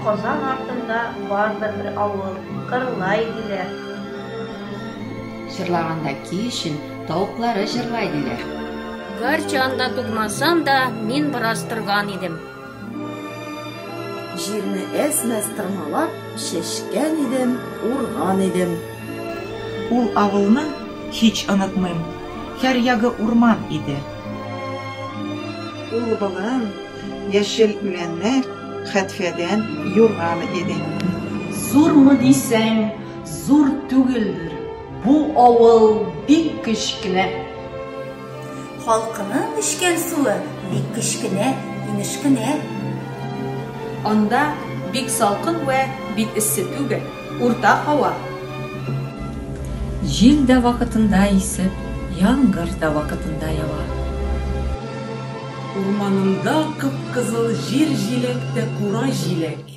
Казан артында бардыр бер авыл, Кырлай диләр. Җырлаганда ки өчен тавыклары җырлай диләр. Гарчанда тугмасам да, мин бераз торган идем. Җирне әз-мәз тырмалап, чәчкән идем, урган идем. Ул авылны һич онытмыйм, һәр ягы урман иде. Ул болын, яшел үләннәр, хәтфәдән юрган иде. Зурмы дисәң, зур түгелдер, бу авыл бик кечкенә. Халкының эчкән суы бик кечкенә, имеш кенә. Анда бик салкын вә бик эссе түгел, урта һава. Җил дә вакытында исеп, яңгыр да вакытында ява. Урманында кып-кызыл җир җиләк тә кура җиләк.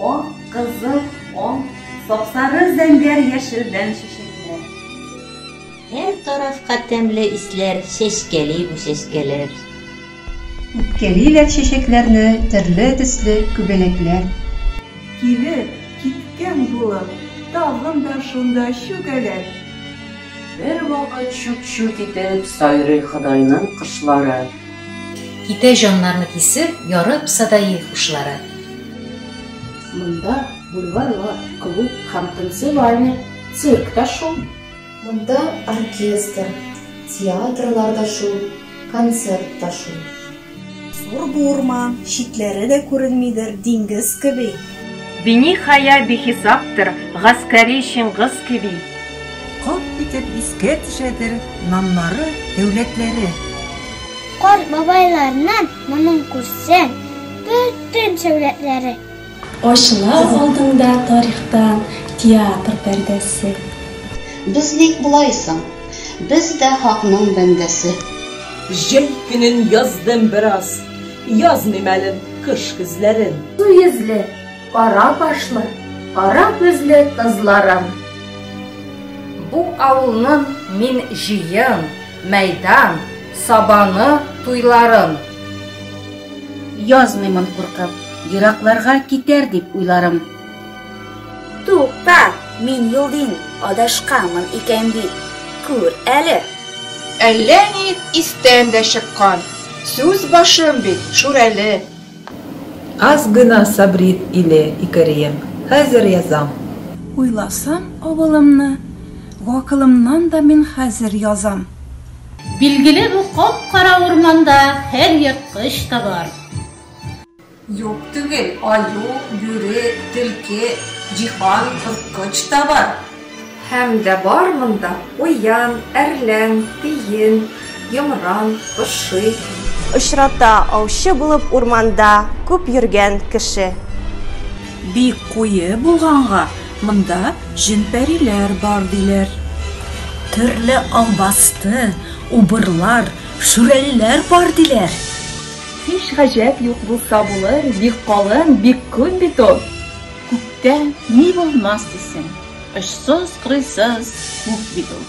Ак, кызыл, ал, сапсары зәңгәр яшелдән чәчәкләр. Һәр тарафка тәмле исләр чәчкәли бу чәчкәләр. Үпкәлиләр чәчәкләрне төрле төсле күбәләкләр. Килеп, киткән булып, тагын да шунда чүгәләр. Бервакыт чут-чут итеп сайрый Ходайның кошлары. Китә җаннарны кисеп, ярып садаи хушлары. Монда бульварлар, клуб һәм танцевальный цирк та шул. Монда оркестр, театрлар да шул, концерт та шул. Зур бу урман, читләре дә күренмидер, диңгез кеби. Бини хая бихисаптыр, гаскәри Чиңгыз кеби. Кап итеп искә төшәдер наннары, дәүләтләре. Карт бабайларның моның күрсәң, бөтен сәүләтләре. Ачыла алдыңда тарихта театр пәрдәсе. Без ник болай соң? Без дә хакның бәндәсе. Җәй көнен яздым бераз. Язмыйм әле кыш көзләрен. Су йөзле, кара кашлы, кара күзле кызларым. Бу авылның мин җыен, мәйдан, сабаны, туйларын. Язмыймын куркып, еракларга китәр дип уйларым. Тукта, мин Йолдин адашканмын икән бит, күр әле! Әллә ни истән дә чыккан. Сүз башым бит Шүрәле. Аз гына сабрит иле, икәрием, хәзер язам. Уйласам авылымны, гакылымнан да мин хәзер язам. Билгеле бу кап-кара урманда һәр ерткыч та бар. Юк түгел, аю, бүре, төлке, җиһан, корткыч та бар. Һәм дә бар монда куян, әрлән, тиен, йомран, поши. Очрата аучы булып урманда күп йөргән кеше. Бик куе булганга, монда җен-пәриләр бар диләр. Төрле албасты, убырлар, шүрәлеләр бар диләр. Һич гаҗәп юк булса булыр, бик калын, бик күп бит ул. Күктә ни булмас дисең, очсыз-кырыйсыз күк бит ул.